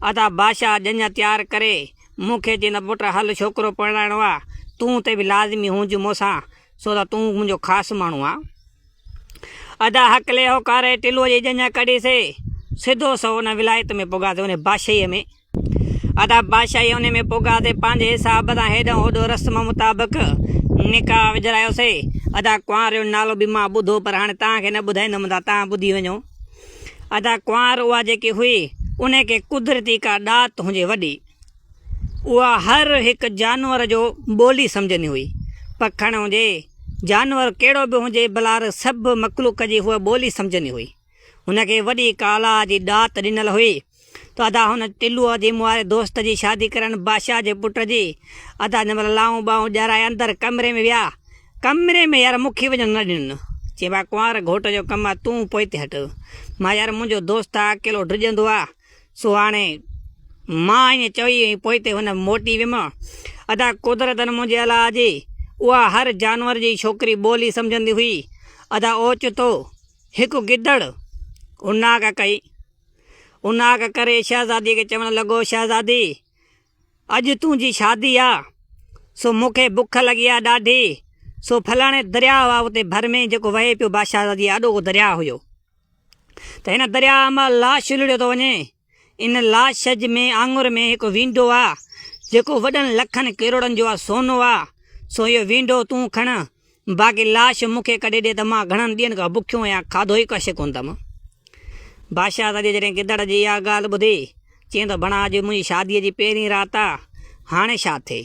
ادا بادشاهه ڄڃ تيار ڪري مون کي چين ته پٽ هل ڇوڪرو پرڻائڻو آ تون تي به لازمي هونج مون سان سو ته تون منهنجو خاص ماڻهو آ ادا هڪلي هو ڪاري ٽلو جي ڄڃ ڪڍي سي سڌو سو ان ولايت ۾ پوگا تي انهي بادشاهي ۾ ادا بادشاهي انهي ۾ پوگا تي پنهنجي حساب سان هيڏو هوڏو رسم مطابق نڪاح وجھرايو سي ادا ڪنواري جو نالو به مان ٻڌو پر هاڻي توهان کي نه ٻڌائيندم ادا توهان ٻڌي وڃو ادا ڪنوار اها جيڪي هئي انهي کي قدرتي ڪا ڏات هجي وڏي اها هر هڪ جانور جو ٻولي سمجهندي هئي پکڻ هجي جانور ڪهڙو به هجي بلار سڀ مخلوق جي هوء ٻولي سمجهندي هئي هن کي وڏي ڪالا جي ڏات ڏنل هئي ته ادا هن ٽلوء جي مواري دوست جي شادي ڪرڻ بادشاهه جي پٽ جي. ادا جن مهل لانهون ٻانهون ڄرائي اندر ڪمري ۾ ويا. ڪمري ۾ يار مون کي وڃڻ نه ڏنن. چي ڀاء ڪنوار گهوٽ جو ڪم آ تون پوئتي هٽ. مان يار منهنجو دوست آ اڪيلو ڊڄندو آ. سو هاڻي مان ائين چئي ۽ پوئتي هن موٽي ويم. ادا قدرتن منهنجي الاء جي اها هر جانور جي ڇوڪري ٻولي سمجهندي هئي. ادا اوچتو هڪ گدڙ هناڪ ڪئي. اناگ ڪري شهزاديء کي چوڻ لڳو، شهزادي! اڄ تنهنجي شادي آ، سو مون کي بک لڳي آ ڏاڍي، سو فلاڻي درياء آ اتي ڀر ۾ جيڪو وهي پيو بادشاهزاديء جي آڏو اهو درياء هيو، ته هن درياء مان لاش الهڙيو ٿو وڃي، ان لاش ۾ آڱر ۾ هڪ وينڊو آ، جيڪو وڏن لکن ڪروڙن جو آ، سونو آ، سو اهو وينڊو تون کڻ، باقي لاش مون کي ڪڍي ڏي ته مان گهڻن ڏينهن کان بکيو آهيان، کاڌو ئي ڪش ڪندم. بادشاهه سڄي جڏهن گدڙ جي اها ڳالهه ٻڌي، چيائين ته بڻا اڄ منهنجي شاديء جي پهرين رات آ، هاڻي ڇا ٿئي؟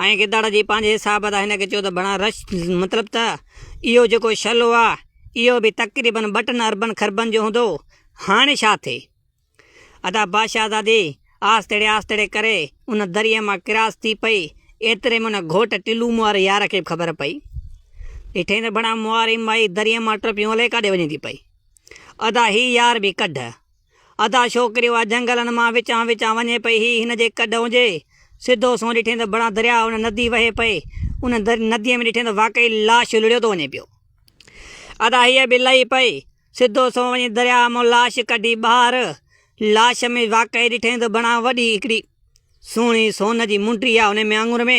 ۽ گدڙ جي پنهنجي حساب تان هن کي چيو ته بڻا رش مطلب ته اهو جيڪو شلو آ، اهو به تقريبن ٻٽن اربن خربن جو هوندو، هاڻي ڇا ٿئي؟ ادا با شهزادي آستڙي آستڙي ڪري ان دريء مان ڪراس ٿي پئي، ايتري ۾ ان گهوٽ ٽلو مئار يار کي به خبر پئي. ڏٺئين ته بڻا مئار ئي مائي دريء مان ٽپيون الائي ڪاڏي وڃي ٿي پئي. ادا هي يار به ڪڍ. ادا ڇوڪري اها جهنگلن مان وچان وچان وڃي پئي هي هن جي ڪڍ هجي. سڌو سنئون ڏٺئين ته بڻا درياء ان ندي وهي پئي. ان نديء ۾ ڏٺئين ته واقعي لاش لڙيو ٿو وڃي پيو. ادا هيء به لهي پئي. سڌو سنئون وڃي درياهه مان لاش ڪڍي ٻاهر، لاش ۾ واقعي ڏٺائين ته بڻا وڏي هڪڙي سهڻي سون جي منٽي آ انهي ۾ آڱر ۾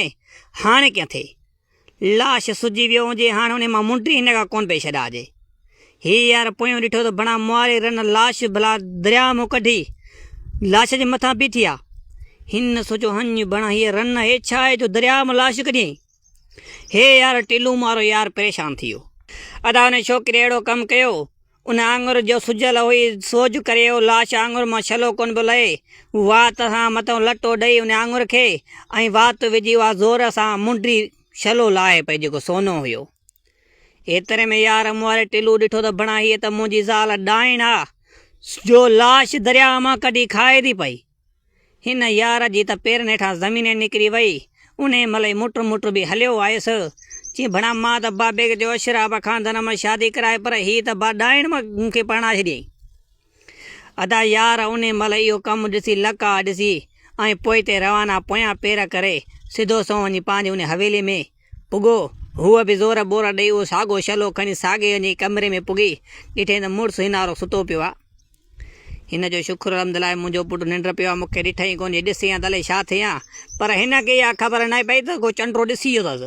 هاڻي ڪيئن ٿئي لاش سجي ويو هجي هاڻي انهي مان منٽي هن کان ڪونه پئي ڇڏائجي هينئر پويون ڏٺو ته بڻا مواري رن لاش ڀلا درياهه مان ڪڍي لاش جي مٿان بيٺي آ هن سوچيو هڃ بڻا هيء رن هي ڇا آهي جو درياهه مان لاش ڪڍيئين. هي يار ٽلون مارو يار پريشان ٿيو. ادا ان ڇوڪري اهڙو ڪم ڪيو ان آڱر جو سجل هئي سوڄ ڪري اهو لاش آڱر مان ڇلو ڪونه پيو لهي هو وات سان مٿيون لٽو ڏئي ان آڱر کي ۽ وات وجهي اها زور سان منڊي ڇلو لاهي پئي جيڪو سونو هيو ايتري ۾ يار مون واري ٽلو ڏٺو ته بڻا هيء ته منهنجي زال ڏائڻ آ جو لاش درياء مان ڪڍي کائي ٿي پئي. هن يار جي ته پيرن هيٺان زمين ئي نڪري وئي. انهيء مهل ئي موٽر موٽر به هليو آيس. چيم ڀڻا مان ته با بيگ جو اشراب کان ڌن مان شادي ڪرائي پر هيء ته با ڏائڻ مان مون کي پرڻائي ڇڏيائين. ادا يار انهيء مهل اهو ڪم ڏسي لڪ آ ڏسي ۽ پوئتي روانا پويان پير ڪري سڌو سنئون وڃي پنهنجي انهيء حويلي ۾ پڳو. هوء به زور ٻور ڏئي اهو ساڳو شلو کڻي ساڳئي انهيء ڪمري ۾ پڳي ڏٺيائين ته مڙس هنارو ستو پيو آ. هن جو شڪر الحمد لاء منهنجو پٽ ننڊ پيو آهي مون کي ڏٺئي ڪونهي ڏسي ها ته الائي ڇا ٿئي ها پر هن کي اها خبر نه پئي ته ڪو چنڊرو ڏسي ويو اٿس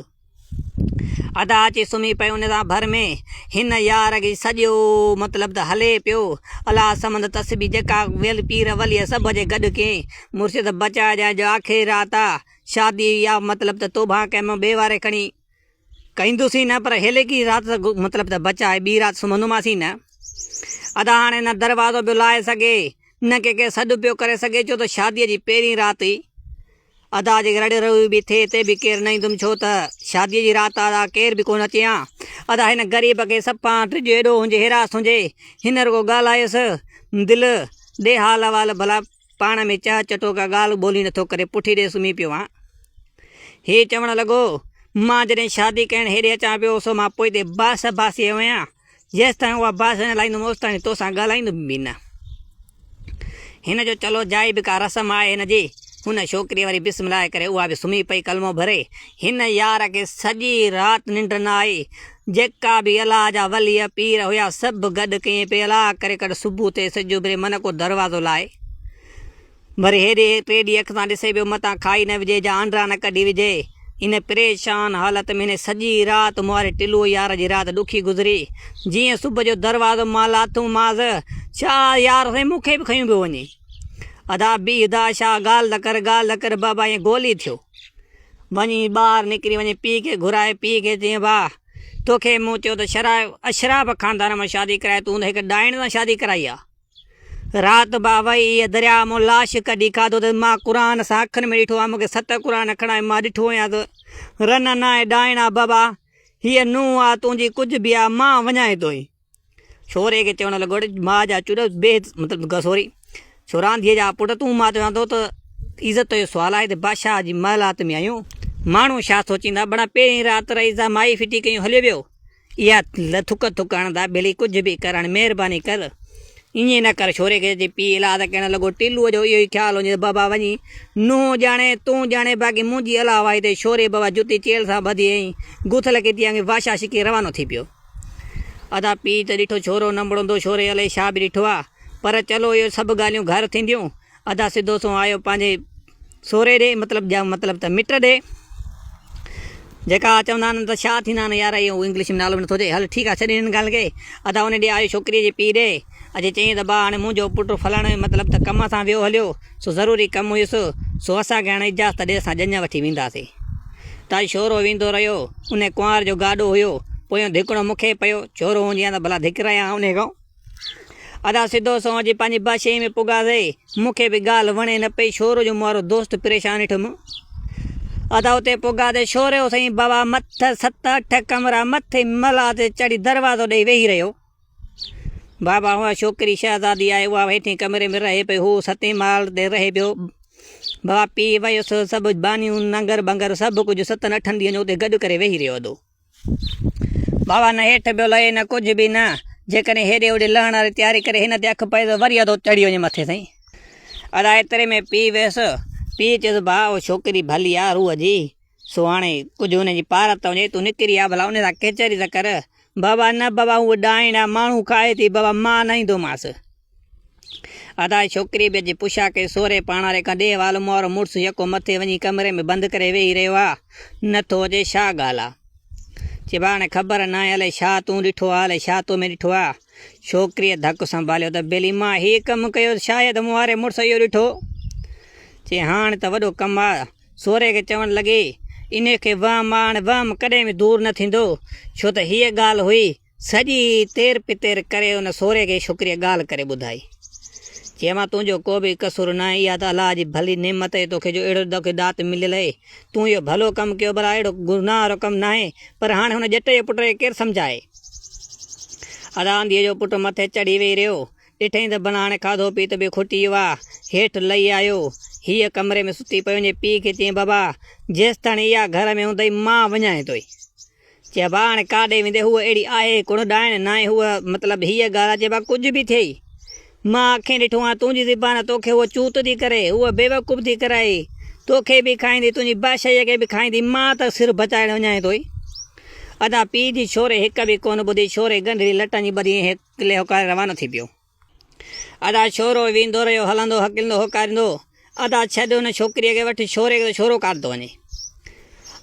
ادا اچي سمهي پئي ان سان ڀر ۾ هن يار کي سڄو مطلب ته هلي پيو الا سمند تسبي جيڪا ويل پير ولي سڀ جي گڏ ڪئي مرشد بچائي ڄائي جو آخري رات آ شادي يا مطلب ته توبهان ڪئي مون ٻي واري کڻي ڪيندوسين نه پر هيليڪي رات ته مطلب ته بچائي ٻي رات سمهندوماسين نه. ادا هاڻي نه دروازو پيو لاهي سگهي نه ڪنهن کي سڏ پيو ڪري سگهي ڇو ته شاديء جي پهرين رات هئي. ادا جي رڙ روئي به ٿئي تي به ڪير نه ايندم ڇو ته شاديء جي رات آ ادا ڪير به ڪونه اچي ها. ادا هن غريب کي سپان ڊڄ ايڏو هنجي هراس هنجي هن رڳو ڳالهايس دل ڏي حال احوال ڀلا. پاڻ ۾ چهه چٽو ڪا ڳالهه ٻولهه نٿو ڪري پٺي ڏي سمهي پيو آهان. هي چوڻ لڳو، مان جڏهن شادي ڪرڻ هيڏي اچان پيو سو مان پوئتي باس باس ئي هيان، جيستائين اها باس نه لائيندم اوستائين توسان ڳالهائيندم به نه. هن جو چلو جائي به ڪا رسم آهي هن جي. هن ڇوڪريء وري بسم الله ڪري اها به سمهي پئي ڪلمو ڀري. هن يار کي سڄي رات ننڊ نه آئي. جيڪا به الاء جا ولي پير هيا سڀ گڏ ڪئين پئي الاء ڪري ڪڍ صبح ٿئي سج اڀري من ڪو دروازو لائي وري هيڏي پيڏي اک سان ڏسي پيو متان کائي نه وجهي جا آنڊرا نه ڪڍي وجهي ان پريشان حالت ۾ هن سڄي رات مهاري ٽلوئي يار جي رات ڏکي گذري جيئن صبح جو دروازو مان لاٿم مانس ڇا يار سائين مون کي به کنيو پيو وڃي ادا بيهه ادا شاهه ڳالهه ته ڪر ڳالهه ته ڪر بابا ائين گولي ٿيو. وڃي ٻاهر نڪري وڃي پيء کي گهرائي پيء کي چيائين ڀاء توکي مون چيو ته شرا اشراف خاندان مان شادي ڪرائي تون ته هڪ ڏائڻ سان شادي ڪرائي آ رات ڀاء وئي ايئن درياء مون لاش ڪڍي کاڌو ته مان قرآن سان اکن ۾ ڏٺو آ مون کي ست قرآن کڻائي مان ڏٺو هيان ته رنن آهي ڏائڻ آ بابا هيء نونهن آ تنهنجي ڪجهه به آ مان وڃائين ٿو هي سوريء کي چوڻ لڳو ته ماء جا چڏ بي عزت مطلب ته سوري سوران ڌيء جا پٽ تون ماء تي آندو ته عزت جو سوال آهي ته بادشاهه جي محلات ۾ آهيون ماڻهو ڇا سوچيندا بڙا پهرين رات رئيس جا مائي ڦٽي ڪيون هليو ويو اها ٿڪ ٿڪ هڻندا ڀيلي ڪجهه به ڪر هاڻي مهرباني ڪر ائين نه ڪر سوريء کي چئي پيء الهاد ڪهڻ لڳو ٽيلوء جو اهو ئي خيال هجي ته بابا وڃي نونهن ڄاڻي تون ڄاڻي باقي منهنجي الهه وائي تي سوري بابا جتي چيلهه سان ٻڌي ۽ گوٿل کي ٿي آڱي بادشاهه شڪي روانو ٿي پيو. ادا پيء ته ڏٺو ڇورو نه مڙندو ڇوري الائي ڇا به ڏٺو آ پر چلو اهي سڀ ڳالهيون گهر ٿينديون ادا سڌو سنئون آيو پنهنجي سوري ڏي مطلب جا مطلب ته مٽ ڏي جيڪا چوندا آهن ته ڇا ٿيندا آهن يار اهو انگلش ۾ نالو به نٿو اچي هل ٺيڪ آ ڇڏ هن ڳالهه کي ادا ان ڏي آيو ڇوڪري جي پيء ڏي اجي چيائين ته ابا هاڻي منهنجو پٽ فلاڻي جو مطلب ته ڪم سان ويو هليو، سو ضروري ڪم هيس، سو اسان کي هاڻي اجازت ڏي اسان ڄڃ وٺي وينداسين. ته اڄ شورو ويندو رهيو، انهي ڪنوار جو گاڏو هيو، پويون ڌڪڻو مون کي پيو، شورو هونجي هان ته ڀلا ڌڪرايان هان انهي کان. ادا سڌو سنئون اچي پنهنجي بادشاهي ۾ پڳاسي، مون کي به ڳالهه وڻي نه پئي، شورو جو مون وارو دوست پريشان ڏٺم. ادا اتي پڳاسي، شورو سائين بابا مٿ ست اٺ ڪمرا مٿي ملهه تي چڙهي دروازو ڏئي ويهي رهيو. بابا اها ڇوڪري شهزادي آهي، اها هيٺين ڪمري ۾ رهي پئي، هو ستين ماڙ تي رهي پيو. بابا پيء ويس، سڀ ٻانهيون، ننگر ٻنگر سڀ ڪجهه ستن اٺن ڏينهن جو اتي گڏ ڪري ويهي رهيو هدو. بابا نه هيٺ پيو لهي نه ڪجهه به نه، جيڪڏهن هيڏي هوڏي لهڻ واري تياري ڪري هن تي اک پئي ته وري ادو چڙهي وڃي مٿي تائين. ادا ايتري ۾ پيء ويس، پيء چيس، ڀاء اها ڇوڪري ڀلي آهي روح جي، سو هاڻي ڪجهه ان جي پارت ته وڃي، تون نڪري آ ڀلا ان سان ڪچهري ته ڪر. بابا نه بابا هو ڏاهڻ آ ماڻهو کائي ٿي بابا مان نه ايندومانس. ادا ڇوڪري به اڄ پشا کي سوري پاڻاري کان ڏيهه وال مئورو مڙس يڪو مٿي وڃي ڪمري ۾ بند ڪري ويهي رهيو آ نه ٿو اچي ڇا ڳالهه آ چي هاڻي خبر ناهي الائي ڇا تون ڏٺو آ الائي ڇا تو ۾ ڏٺو آ ڇوڪريء ڌڪ سنڀاليو ته بيلي مان هي ڪم ڪيو شايد مون واري مڙس اهو ڏٺو چي هاڻي ته وڏو ڪم آ سورهيه کي چوڻ لڳي، انهيء کي وهم ماڻ وهم ڪڏهن به دور نه ٿيندو، ڇو ته هيء ڳالهه هئي. سڄي تير پتير ڪري ان سورهيه کي ڇوڪريء ڳالهه ڪري ٻڌائي. چيائين، مان تنهنجو ڪو به قصور ناهي، اها ته الله جي ڀلي نعمت اهي توکي جو اهڙو توکي ڏات مليل اهي. تون اهو ڀلو ڪم ڪيو ڀلا اهڙو گناهه وارو ڪم ناهي، پر هاڻي هن ڄٽ جي پٽ کي ڪير سمجهائي. ادا انڌيء جو پٽ مٿي چڙهي ويهي رهيو. ڏٺئين ته بناڻي کاڌو پيت به کوٽي ويو آهي. هيٺ لهي آيو. هيء ڪمري ۾ ستي پئي وڃي پيء کي چيائين بابا! جيستائين اها گهر ۾ هوندئي مان وڃانء ٿو ئي. چيائين با هاڻي ڪاڏي ويندين هوء اهڙي آهي ڪونه ڏائڻ ناهي هوء مطلب هيء ڳالهه چئي با ڪجهه به ٿئي مان اکين ڏٺو آهي تنهنجي زبان توکي هوء چوت ٿي ڪري هوء بيوقوف ٿي ڪرائي توکي به کائيندي تنهنجي باشيء کي به کائيندي مان ته سر بچائڻ وڃانء ٿو ئي. ادا پيء جي ڇوري هڪ به ڪونه ٻڌي ڇوري ڳنڍري لٽن جي ٻڌي ۽ هڪ. قلعي هوڪاري روانو ٿي پيو. ادا ڇورو ويندو رهيو هلندو هڪلندو هوڪاريندو ادا ڇڏ ان ڇوڪريء کي وٺ ڇوري کي ته ڇورو ڪاڍندو وڃي.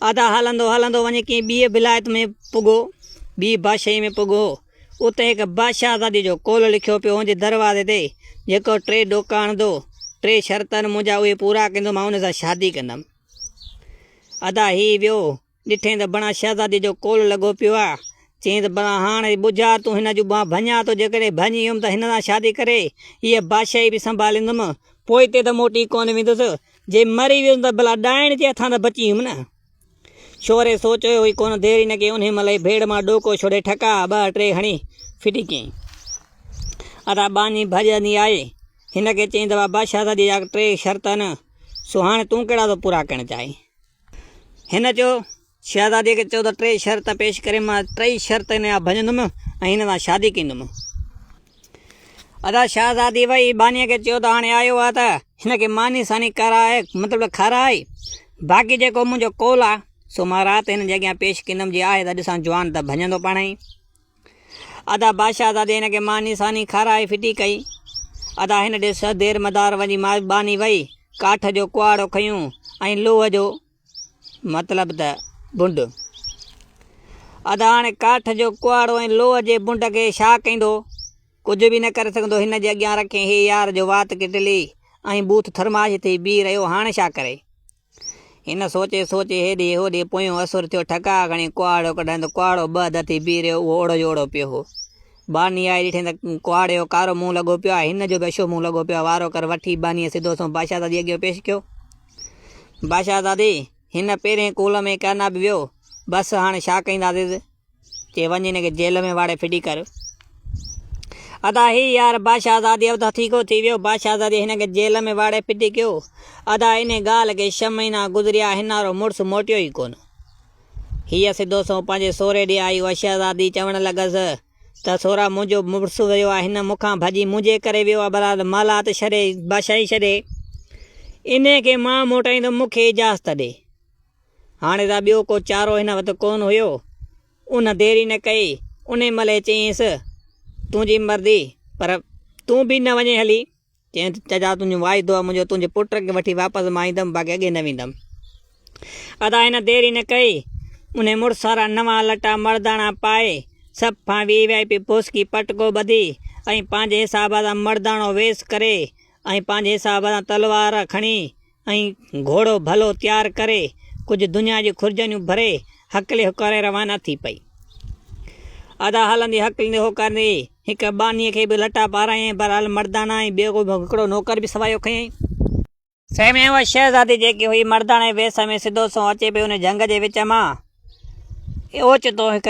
ادا هلندو هلندو وڃي ڪنهن ٻيء ولايت ۾ پڳو ٻيء بادشاهيء ۾ پڳو اتي هڪ بادشاهزاديء جو قول لکيو پيو هن جي دروازي تي جيڪو ٽي ڏوڪا آڻندو ٽي شرط آهن منهنجا اهي پورا ڪندو مان ان سان شادي ڪندم. ادا هي ويو. ڏٺئين ته بڻان شهزادي جو ڪول لڳو پيو آهي. چيائين ته بڻان هاڻ اي ٻجها، تون هن جون ٻانهن ڀڃاء ٿو، جيڪڏهن ڀڃي ويم ته هن سان شادي ڪري، هيء بادشاهي به سنڀاليندم، پوء هتي ته موٽي ڪونه ويندس، جي مري ويس ته ڀلا ڏائڻ جي هٿان ته بچي ويم نه! شوري سوچيو ئي ڪونه، دير ئي نه ڪيائين، انهيء مهل ئي ڀيڙ مان ڏوڪو ڇوڙي ٺڪا ٻه ٽي هڻي ڦٽي ڪيائين. ادا ٻانهي ڀڄندي آئي، هن کي چيائين ته وا بادشاهزاديء جا ٽي شرط آهن، سو هاڻ تون ڪهڙا ٿو پورا ڪرڻ چاهين؟ هن چيو، شهزاديء کي چئو ته ٽي شرط پيش ڪري، مان ٽئي شرط هن جا ڀڃندم ۽ هن سان شادي ڪندم. ادا شهزادي ويئي بانيء کي چيو ته هاڻي آيو آهي ته هن کي ماني ساني ڪرائي مطلب ته کارائي، باقي جيڪو منهنجو قول آهي، سو مان رات هن جي اڳيان پيش ڪندم، جي آهي ته ڏسان جوان ته ڀڃندو پاڻهئي. ادا بادشاهه زادي هن کي ماني ساني کارائي ڦٽي ڪئي. ادا هن ڏي سهه دير مدار وڃي مائباني وئي ڪاٺ جو ڪهاڙو کنيون ۽ لوهه جو مطلب ته بنڊ. ادا هاڻي ڪاٺ جو ڪهاڙو ۽ لوهه جي بنڊ کي ڇا ڪيندو؟ ڪجهه به نه ڪري سگهندو هن جي اڳيان رکين هي يار جو وات ڪٽلي ۽ بوٿ ٿرماش ٿي بيهي رهيو هاڻ ڇا ڪري؟ هن سوچي سوچي هيڏي هوڏي پويون اسور ٿيو، ٺڪاء کڻي ڪهاڙو ڪڍيائين ته ڪهاڙو ٻه هڌ ٿي بيهه رهيو، اهو اوڙو جو اوڙو پيو هو. ٻانهي آئي ڏٺيائين ته ڪهاڙي جو ڪارو منهن لڳو پيو آهي، هن جو به اشو منهن لڳو پيو آهي، وارو ڪر وٺي ٻانهيء سڌو سنئون باشاهزاديء اڳيان پيش ڪيو. باشاهزادي! هن پهرين ڪول ۾ ڪيئن نه به ويو، بس هاڻ ڇا ڪينداسين؟ چي وڃ هن کي جيل ۾ واڙي ڦٽي ڪر. ادا هي يار باشهزادي اٿ هٿيڪو ٿي ويو. باشهزادي هن کي جيل ۾ واڙي ڦٽي ڪيو. ادا انهي ڳالهه کي ڇهه مهينا گذريا هنارو مڙس موٽيو ئي ڪونه. هيء سڌو سنئون پنهنجي سهري ڏي آئي هئا. شهزادي چوڻ لڳس ته سهرا منهنجو مڙس ويو آ هن مون کان ڀڄي منهنجي ڪري ويو آ برحال محلات ڇڏي باشاهي ڇڏي انهي کي مان موٽائيندم مون کي اجازت ڏي. هاڻي ته ٻيو ڪو چارو هن وٽ ڪونه هيو. ان ديري نه ڪئي. انهي مهل ئي چيائينس، تنهنجي مرضي، پر تون به نه وڃين هلي. چيائين ته چچا تنهنجو واعدو آهي منهنجو تنهنجي پٽ کي وٺي واپس مان ايندم باقي اڳي نه ويندم. ادا هن ديري نه ڪئي. انهي مڙس وارا نوان لٽا مڙداڻا پائي، سڀ کان وي وي آء پي پوسڪي پٽڪو ٻڌي ۽ پنهنجي حساب سان مڙداڻو ويس ڪري ۽ پنهنجي حساب سان تلوار کڻي ۽ گهوڙو ڀلو تيار ڪري، ڪجهه دنيا جون خرجانيون ڀري، هڪلي هوڪاري روانا ٿي پئي. ادا هلندي هڪلندي هوڪاريندي هڪ ٻانهيء کي به لٽا پارايائين، بهرحال مرداڻا ۽ ٻيو هڪڙو نوڪر به سوايو ڪيائين. سنهي ۾ اها شهزادي جيڪي هئي، مرداڻي ويس ۾ سڌو سنئون اچي پئي، ان جهنگ جي وچ مان اوچتو هڪ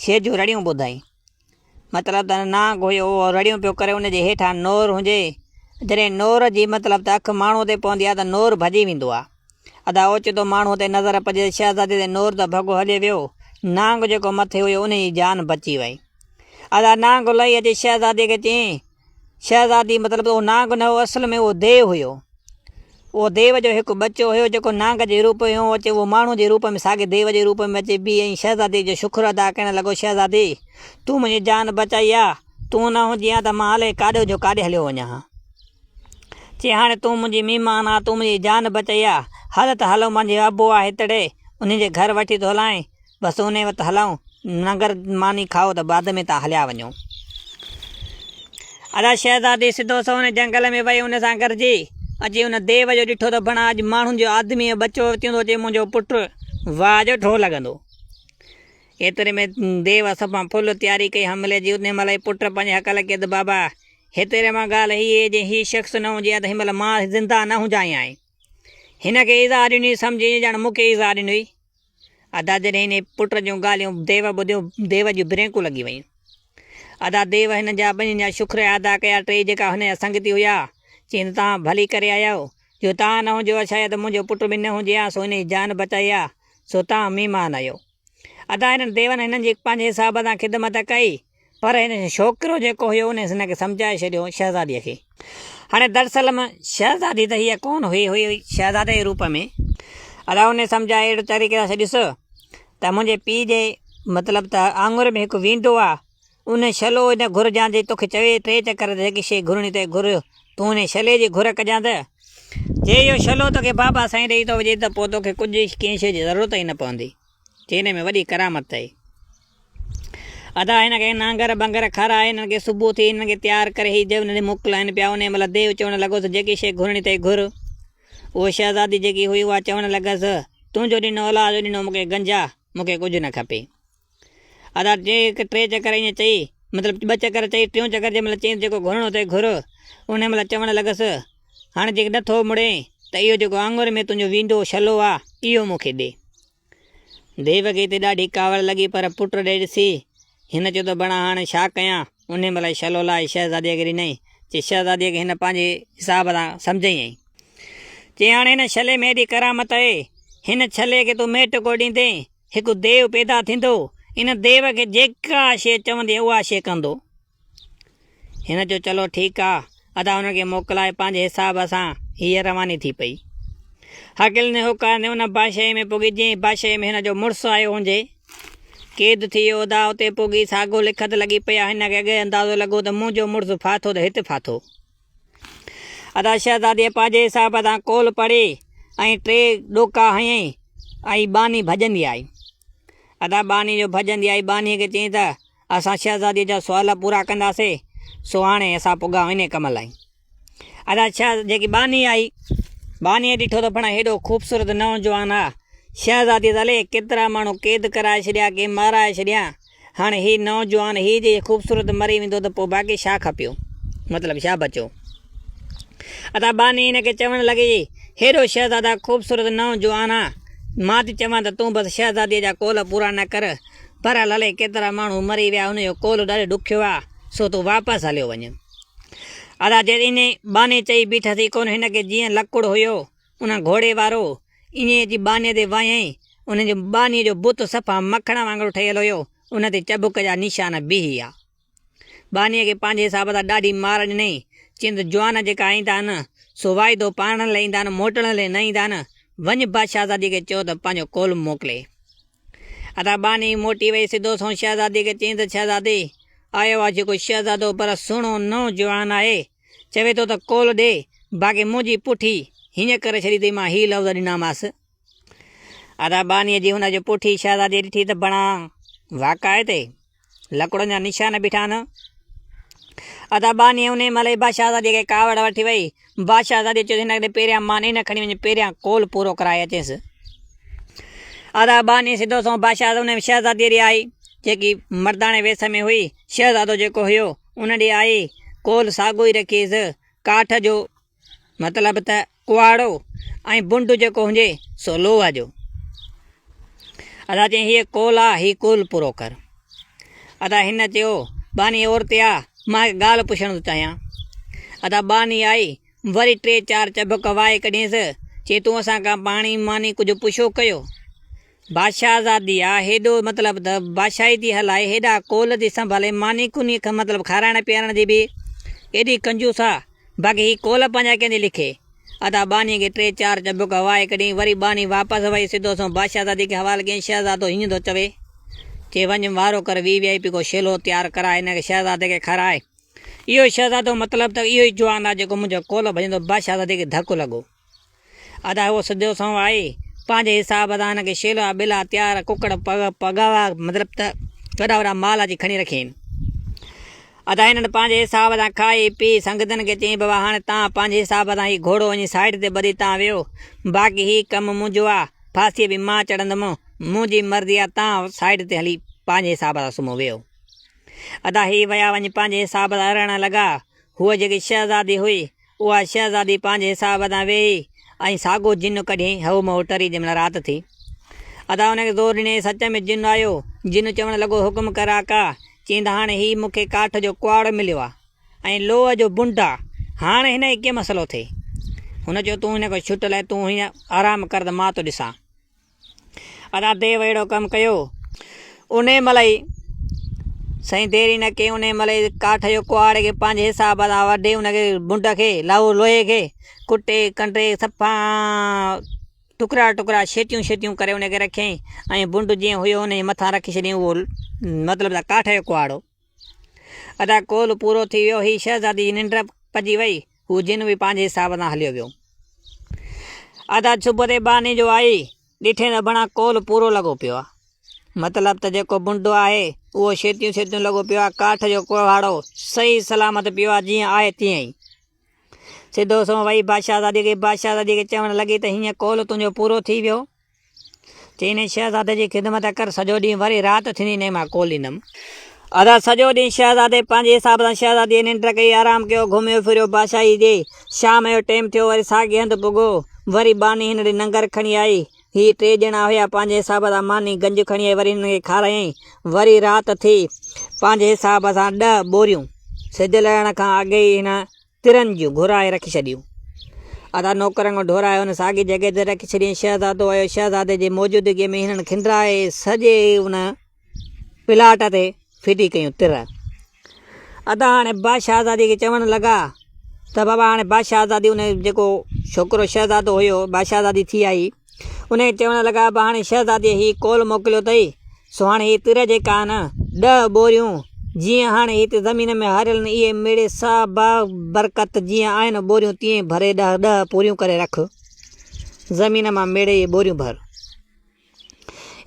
شيء جون رڙيون ٻڌائين. مطلب ته نه گويو اهو رڙيون پيو ڪري ان جي هيٺان نور هجي. جڏهن نور جي مطلب ته اک ماڻهوء تي پوندي آهي ته نور ڀڄي ويندو آهي. ادا اوچتو ماڻهوء تي نظر پڄي ته شهزادي تي نور ته ڀڳو هلي ويو. نانگ جيڪو مٿي هيو ان جي جان بچي وئي. ادا نانگ لهي اچي شهزادي کي چيائين. شهزادي مطلب ته اهو نانگ نه هو اصل ۾ اهو ديو هيو. اهو ديو جو هڪ ٻچو هيو جيڪو نانگ جي روپ ۾ هو اچي اهو ماڻهو جي روپ ۾ ساڳي ديو جي روپ ۾ اچي بيهي ۽ شهزادي جو شڪر ادا ڪرڻ لڳو شهزادي تون منهنجي جان بچائي ها تون نه هجين ها ته مان الائي ڪاڏو جو ڪاڏي هليو وڃان ها چي هاڻي تون منهنجي مهمان آ تون منهنجي جان بچائي ها هل ته هلون منهنجي ابو آ هتڙي انهي جي گهر وٺي ٿو هلانء. بس انهيء وٽ هلائون، ننگر ماني کائو ته بعد ۾ تان هليا وڃو. ادا شهزادي سڌو سنئون ان جهنگل ۾ وئي ان سان گڏجي اچي ان ديو جو ڏٺو ته بڻا اڄ ماڻهن جو آدميء جو ٻچو وتيون ٿو اچي منهنجو پٽ واهه جو ڍو لڳندو. ايتري ۾ ديو سڀان ڦل تياري ڪئي حملي جي انهيء مهل ئي پٽ پنهنجي حق لکي ته بابا هتيري مان ڳالهه هيء اهي جي هي شخص نه هجي ها ته هن مهل مان زنده نه هجان هان هن کي ايذاء ڏني سمجهي ائين ڄڻ مون کي ايذاء ڏني هئي. ادا جڏهن هن پٽ جون ڳالهيون ديو ٻڌيو، ديو جون برينڪون لڳي ويون. ادا ديو هنن جا ٻنهين جا شڪريا ادا ڪيا، ٽيئي جيڪا هن جا سنگتي هيا، چين ته توهان ڀلي ڪري آيا آهيو، جو توهان نه هجو ها شايد منهنجو پٽ به نه هجي ها، سو هن جي جان بچائي ها، سو توهان ميمان آهيو. ادا هنن ديون هنن جي پنهنجي حساب سان خدمت ڪئي. پر هن ڇوڪرو جيڪو هيو ان هن کي سمجهائي ڇڏيو شهزاديء کي. هاڻي دراصل ۾ شهزادي ته هيء ڪونه هئي، هيء هئي شهزادي جي روپ ۾. ادا هن سمجهائي اهڙي طريقي سان ڇڏيس ته منهنجي پيء جي مطلب ته آڱر ۾ هڪ ويندو آ، ان شلو هن گهر جيان جي توکي چوي ٽي چڪر ته جيڪي شيء گهرڻي اٿئي گهر، تون هن شلي جي گهر ڪجان ته جي اهو شلو توکي بابا سائين ڏئي ٿو وڃي ته پوء توکي ڪجهه ڪنهن شيء جي ضرورت ئي نه پوندي. چيني ۾ وڏي ڪرامت ٿئي. ادا هن کي نانگر ٻنگر کارائي هنن کي صبح ٿي هنن کي تيار ڪري هي جيون ڏي موڪلائين پيا انهي مهل ديو چوڻ لڳو ته جيڪي شيء گهرڻي اٿئي گهر. اهو شهزادي جيڪي هئي اها چوڻ لڳس تنهنجو ڏنو الله جو ڏنو مون کي گنجا مون کي ڪجهه نه کپي. ادا ٽي چڪر ائين چئي مطلب ٻه چڪر چئي ٽيون چڪر جنهن مهل چئينس جيڪو گهرڻو اٿئي گهر انهي مهل چوڻ لڳس. هاڻ جي نه ٿو مڙين ته اهو جيڪو آڱر ۾ تنهنجو ويندو شلو آ، اهو مون کي ڏي. ديو کي ته ڏاڍي ڪاوڙ لڳي پر پٽ ڏي ڏسي، هن چيو ته بڻا هاڻ ڇا ڪيان؟ انهيء مهل شلو لاهي شهزاديء کي ڏنائين، چي شهزاديء کي هن پنهنجي حساب سان سمجهيائين ۽. چي هاڻ هن شلي ۾ ايڏي ڪرامت اهي، هن شلي کي تون ميٽ ڪو ڏيندين، هڪ ديو پيدا ٿيندو، ان ديو کي جيڪا شيء چوندين اها شيء ڪندو. هن چيو چلو ٺيڪ آ. ادا هن کي موڪلائي پنهنجي حساب سان هيء رواني ٿي پئي. هاڪل ني هوڪار ني ان بادشاهيء ۾ پڳي جنهن بادشاهيء ۾ هن جو مڙس آيو هونجي. قيد ٿي ويو ادا اتي پڳي ساڳو لکت لڳي پئي آ هن کي اڳئي اندازو لڳو ته منهنجو مڙس ڦاٿو ته هت ڦاٿو. ادا شهزاديء پنهنجي حساب سان قول پڙهي ۽ ٽي ڏوڪا هنئي ۽ ٻانهي ڀڄندي آئي. ادا ٻانهي جو ڀڄندي آئي ٻانهيء کي چيائين ته اسان شهزاديء جا سوال پورا ڪنداسين، سو هاڻي اسان پڳا انهيء ڪم لاء. ادا شهز جيڪي ٻانهي آئي، ٻانهيء ڏٺو ته پڻ هيڏو خوبصورت نوجوان آ. شهزاديء ته الئي ڪيترا ماڻهو قيد ڪرائي ڇڏيا، ڪي مارائي ڇڏيا. هاڻي هي نوجوان هيء جي خوبصورت مري ويندو ته پوء باقي ڇا کپيو؟ مطلب ڇا بچيو؟ ادا ٻانهي هن کي چوڻ لڳي، هيڏو شهزادا خوبصورت نوجوان آ، مان ٿي چوان ته تون بس شهزاديء جا قول پورا نه ڪر، پر للي ڪيترا ماڻهو مري ويا ان جو قول ڏاڍي ڏکيو آ سو تون واپس هليو وڃ. ادا جي ائين ٻانهي چئي بيٺس ئي ڪونه هن کي جيئن لڪڙ هيو ان گهوڙي وارو ائين اچي ٻانهي تي وهيائين ان جي ٻانهي جو بت صفا مکڻ وانگر ٺهيل هيو ان تي چڀڪ جا نشان بيهي آ. ٻانهيء کي پنهنجي حساب سان ڏاڍي مار ڏنئي. چين ته جوان جيڪا آئين ٿا ان سو واعدو پاڙڻ لئي ايندا آهن، موٽڻ لئي نه ايندا آهن. وڃ با شهزاديء کي چئو ته پنهنجو ڪولهه موڪلي. ادا ٻانهي موٽي وئي سڌو سنئون شهزاديء کي چيائين ته شهزادي، آيو آهي جيڪو شهزادو پر سهڻو نئون جوان آهي. چوي ٿو ته ڪولهه ڏي، باقي منهنجي پٺي هينئن ڪري ڇڏي اٿئي مان هي لفظ ڏنامانس. ادا ٻانهيء جي هن جو پوٺي شهزادي ڏٺي ته بڻا واڪائي تي لڪڙن جا نشان بيٺا نه ادا ٻانهيء انهي مهل ئي بادشاهزاديء کي ڪاوڙ وٺي وئي. بادشاهزاديء چيس هن کي پهريان ماني نه کڻي وڃ، پهريان قول پورو ڪرائي اچيس. ادا ٻانهي سڌو سنئون بادشاهه انهي شهزاديء ڏي آئي، جيڪي مرداڻي ويس ۾ هئي. شهزادو جيڪو هيو، ان ڏي آئي، قول ساڳيو ئي رکيس. ڪاٺ جو مطلب ته ڪوئاڙو ۽ بنڊ جيڪو هجي سو لوهه جو. ادا چيائين هيء قول آ، هي قول پورو ڪر. ادا هن چيو، ٻانهي عورتي آ، مان هڪ ڳالهه پڇڻ ٿو چاهيان. ادا ٻانهي آئي، وري ٽي چار چڀڪ وائي ڪڍينس، چي تون اسان کان پاڻي ماني ڪجهه پڇو ڪيو. بادشاهه زادي آ هيڏو مطلب ته بادشاهي ٿي هلائي هيڏا قول ٿي سنڀالي ماني ڪوني کان مطلب کارائڻ پيارڻ جي به ايڏي ڪنجوس آ باقي هي قول پنهنجا ڪيندي لکي ادا ٻانهي کي ٽي چار چبڪ هوائي ڪڍين وري ٻانهي واپس وئي سڌو سنئون بادشاهه زادي کي حوال ڪيائين شهزادو هينئن ٿو چوي چي وڃ وارو ڪر وي وي آئي پي ڪو شيلو تيار ڪراء هن کي شهزادي کي کارائ اهو شهزادو مطلب ته اهو ئي جوان آ جيڪو منهنجو قول ڀڄندو بادشاهه زادي کي ڌڪ لڳو. ادا هو سڌو سنئون آهي پنهنجي حساب سان هن کي شيلا ٻيلا تيار ڪڪڙ پڳاوا مطلب ته وڏا وڏا مال اچي کڻي رکين ادا هنن پنهنجي حساب سان کائي پي سنگتن کي چئين بابا هاڻي تان پنهنجي حساب سان هي گهوڙو وڃي سائيڊ تي ٻڌي تان ويهو باقي هي ڪم منهنجو آ ڦاسي به مان چڙهندم منهنجي مرضي آ تان سائيڊ تي هلي پنهنجي حساب سان سمهو ويهو ادا هي ويا وڃي پنهنجي حساب سان رهڻ لڳا هوء جيڪي شهزادي هئي اها شهزادي پنهنجي حساب تان ويهي ۽ ساڳو جن ڪڍيائين هئو مئو ٽري جنهن مهل رات ٿي. ادا ان کي زور ڏني سچ ۾ جن آيو. جن چوڻ لڳو حڪم ڪر آقا. چيند هاڻ هي مون کي ڪاٺ جو ڪهاڙو مليو آ ۽ لوهه جو بنڊ آ. هاڻ هن کي ڪيئن مسئلو ٿئي. هن چيو تون هن کان ڇٽ لهه تون هينئر آرام ڪر ته مان ٿو ڏسان. ادا ديو اهڙو ڪم ڪيو. انهي مهل ئي سائين ديري نه ڪيائون انهي مهل ئي ڪاٺ جو ڪهاڙي کي پنهنجي حساب سان وڍي ان کي منڍ کي لهو لوهي کي ڪٽي ڪنڊي صفا ٽڪرا ٽڪرا شيٽيون شيٽيون ڪري ان کي رکيائين ۽ منڍ جيئن هيو انهي مٿان رکي ڇڏيائين اهو مطلب ته ڪاٺ جو ڪهاڙو ادا ڪول پورو ٿي ويو هي شهزادي جي ننڊ پڄي وئي هو جن به پنهنجي حساب سان هليو ويو ادا چپ تي باني جو آئي ڏٺي ته بڻا ڪول پورو لڳو پيو آ مطلب ته جيڪو بنڊو آهي اهو شيتيون شيتيون لڳو پيو آ ڪاٺ جو ڪوهاڙو صحيح سلامت پيو آ جيئن آهي تيئن ئي سڌو سنئون وئي بادشاهزادي کي بادشاهزادي کي چوڻ لڳي ته هيئن ڪول تنهنجو پورو ٿي ويو چيني شهزادي جي خدمت ڪر سڄو ڏينهن وري رات ٿيندي نئين مان کوليندم. ادا سڄو ڏينهن شهزادي پنهنجي حساب سان شهزاديء ننڊ ڪئي، آرام ڪيو، گهميو ڦريو بادشاهيء جي. شام جو ٽيم ٿيو، وري ساڳئي هنڌ پڳو. وري ٻانهي هن ڏي ننگر کڻي آئي. هي ٽي ڄڻا هيا، پنهنجي حساب سان ماني گنج کڻي آئي، وري هنن کي کارايائين. وري رات ٿي، پنهنجي حساب سان ڏهه ٻوريون. سج لهڻ کان اڳي ئي هن ترن جون گهرائي رکي ڇڏيون. ادا نوڪرن کان ڍورائي هن ساڳي جڳهه تي رکي ڇڏيائين. شهزادو آيو. شهزادي جي موجودگيء ۾ هنن کنڊرائي سڄي ان پلاٽ تي ڦٽي ڪيون تر. ادا هاڻي بادشاهه آزاديء کي چوڻ لڳا ته بابا هاڻي بادشاهه آزادي ان جيڪو ڇوڪرو شهزادو هيو، بادشاهه آزادي ٿي آئي. انهيء چوڻ لڳا، ٻانهي شهزاديء هي قول موڪليو اٿئي، سو هاڻ هي تر جيڪا آهن، ڏهه ٻوريون، جيئن هاڻي هت زمين ۾ هاريل آهن، اهي ميڙي ساهه باهه برڪت جيئن آهن ٻوريون تيئن ڀري ڏهه ڏهه پوريون ڪري رک. زمين مان ميڙي اهي ٻوريون ڀر.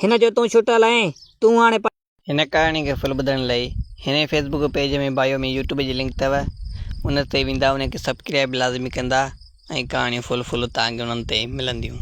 هن چيو، تون ڇٽل آهين، تون هاڻي پاڻ. هن ڪهاڻي کي ڦل ٻڌڻ لئي هن جي Facebook page ۾ bio ۾ YouTube جي لنڪ اٿو ان تي ويندا ان کي سبڪرائب لازمي ڪندا ۽ ڪهاڻيون ڦل ڦل تهان کي انهن تي ملنديون.